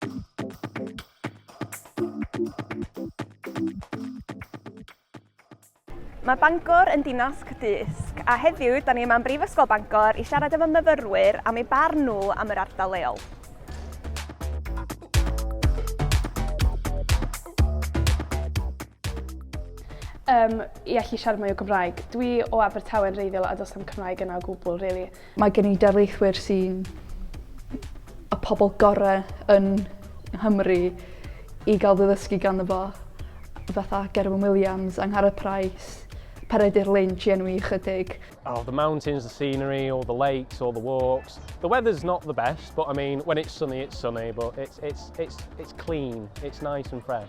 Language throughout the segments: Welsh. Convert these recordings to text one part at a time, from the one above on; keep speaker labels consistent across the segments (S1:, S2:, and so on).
S1: Mae Bangor yn dinas cydysg, a heddiw da ni yma yn Brifysgol Bangor i siarad efo myfyrwyr am ei barn nhw am yr ardal leol.
S2: Um, I allu siarad mwy o Gymraeg. Dwi o Abertawe'n reiddiol a does am Cymraeg yna o gwbl, really. Mae gen i darlithwyr
S3: sy'n y pobl gorau yn Nghymru i gael fy ddysgu ganddo fo, fatha Gerwyn Williams, Angharad Price, Peredur Lynch i enwi ychydig. Oh, the mountains,
S4: the scenery, all the lakes, all the walks. The weather's not the best, but I mean, when it's sunny, it's sunny, but it's, it's, it's, it's clean, it's nice and fresh.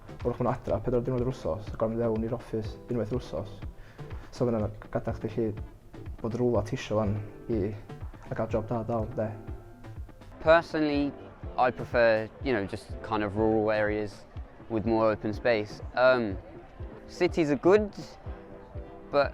S5: Wrach bod nhw adra pedwar diwrnod yr wsos a gorfod mynd fewn i'r office unwaith yr wsos. So ma' hwnna'n gadarch chdi 'llu bod rywle ti isio 'wan i a ga'l job da dal 'de? Personally
S6: I prefer you know just kind of rural areas with more open space. Umm cities are good but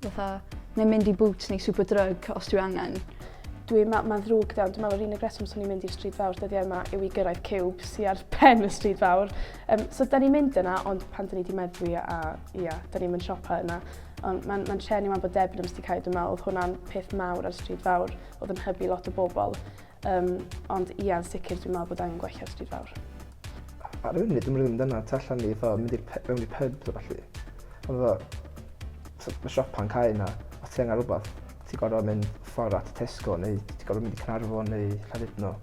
S3: Fatha, neu mynd i Boots neu Superdrug os dwi angen. Dwi, ma, ma'n
S2: ddrwg iawn, dwi'n meddwl yr unig reswm swn i'n mynd i'r stryd fawr dyddiau yma yw i gyrraedd cywb sy'n ar pen y stryd fawr. Um, so da ni'n mynd yna, ond pan da ni wedi meddwi a ia, da ni'n mynd siopa yna. Ond mae'n ma trenu ma'n bod Debenhams wedi cael, dwi'n meddwl, oedd hwnna'n peth mawr ar stryd fawr, oedd yn hybu lot o bobl. Um, ond ia, yn sicr dwi'n meddwl bod angen gwella stryd fawr. Ar y
S5: funud, dwi'n rhywun dyna, tu allan ni, fatha, mynd i'r pe- mewn i pub, ta falle. Ond fatha, mae siopa'n cael yna, os ti angen rhywbeth, ti'n gorfod mynd ffordd at Tesco, neu ti'n gorfod mynd i Cynarfon, neu Llandudno.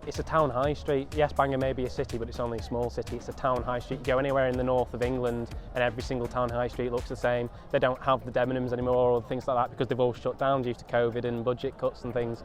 S5: It's a town
S4: high street. Yes, Bangor may be a city, but it's only a small city. It's a town high street. You go anywhere in the north of England and every single town high street looks the same. They don't have the Debenhams anymore or things like that because they've all shut down due to COVID and budget cuts and things.